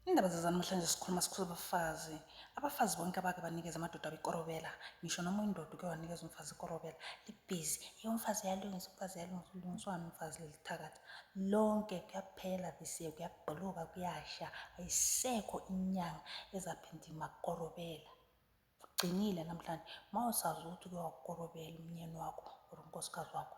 Indaba zezanamhlanje sikhuluma sikhuza abafazi. Abafazi bonke abake banikeza amadoda abo ikorobela. Ngisho noma uyindoda uke wanikeza umfazi ikorobela. Libhizi. Eyi umfazi uyalungisa, umfazi uyalungisa. Ulungiswani umfazi leli thakathi? Lonke kuyaphela this year, kuyagqoloka, kuyasha. Ayisekho inyanga ezaphinda imakorobela. Kugcinile namhlanje. Uma usazi ukuthi uke wakorobela umnyeni wakho or unkosikazi wakho.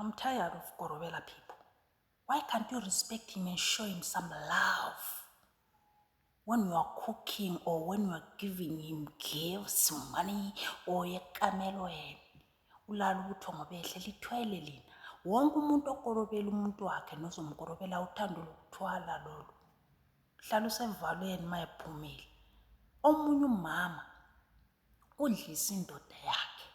I'm tired of Gorobela people. Why can't you respect him and show him some love? When you are cooking or when you are giving him gifts, money, or yekamelo yena. Ulala ukuthi ngobehle lithwele lina. Wonke umuntu okorobela umuntu wakhe nozomkorobela uthando lokuthwala lolu. Hlala usevalweni mayephumile. Omunye umama Udlisa indoda yakhe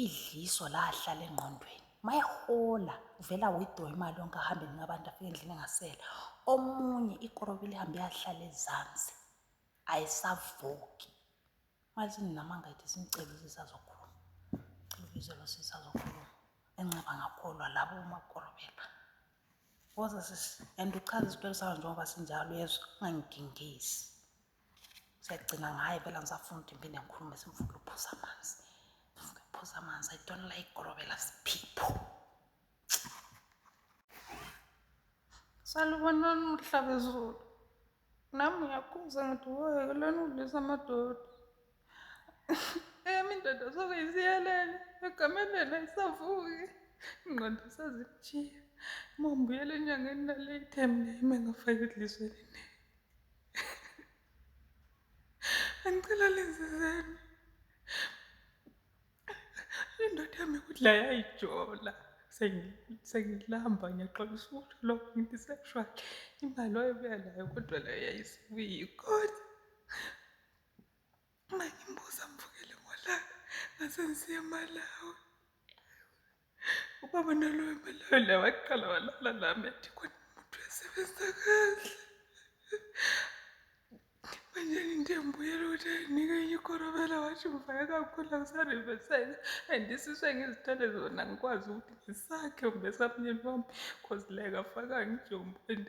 idliso lahlala engqondweni mayehola uvela withdraw imali yonke ahambe enika abantu afike endlini engasela omunye ikorobi lihambe yahlala ezansi ayisavuki manje namanga ethi simcela usisazokhuluma cela ubize lo sisazokhuluma enxiba ngakholwa labo umakorobela woza sisi and uchaza isitori sawo njengoba sinjalo yezwa ungangigingisi Siyagcina ngaye phela ngisafunda impinde ngikhulume simfuna ukuphuza amanzi. Ngifuna ukuphuza amanzi. I don't like gorobela siphipho. Salubonani uhlabezulu. Nami ngiyakhuza ngithi woyeke lona udlisa amadoda. Eyami indoda soke isiyelele egamelela isavuki. Ingqondo sazikujiya. Uma ngibuyela enyangeni nale ithembe ime ngafake idlisweni. Angicela lenzizeni. Indoda yami kudla yayijola. Sengilamba ngiyaxolisa ukuthi lokho ngithi sexual. Imali wayebuya nayo kodwa leyo yayisibuyi kodwa. Uma ngimbuza mvukele ngolaka ngase ngisiya emalawi ubaba nalowo emalawi la waqala walala lami athi khona umuntu uyasebenza kahle manje ngiyambuyela ukuthi ayinike enye ikorobela washo mvaya kakhulu angisariveseka and isiswe ngizithole zona ngikwazi ukuthi ngisakhe umbesamnyeni wami cause like afaka ngijombo and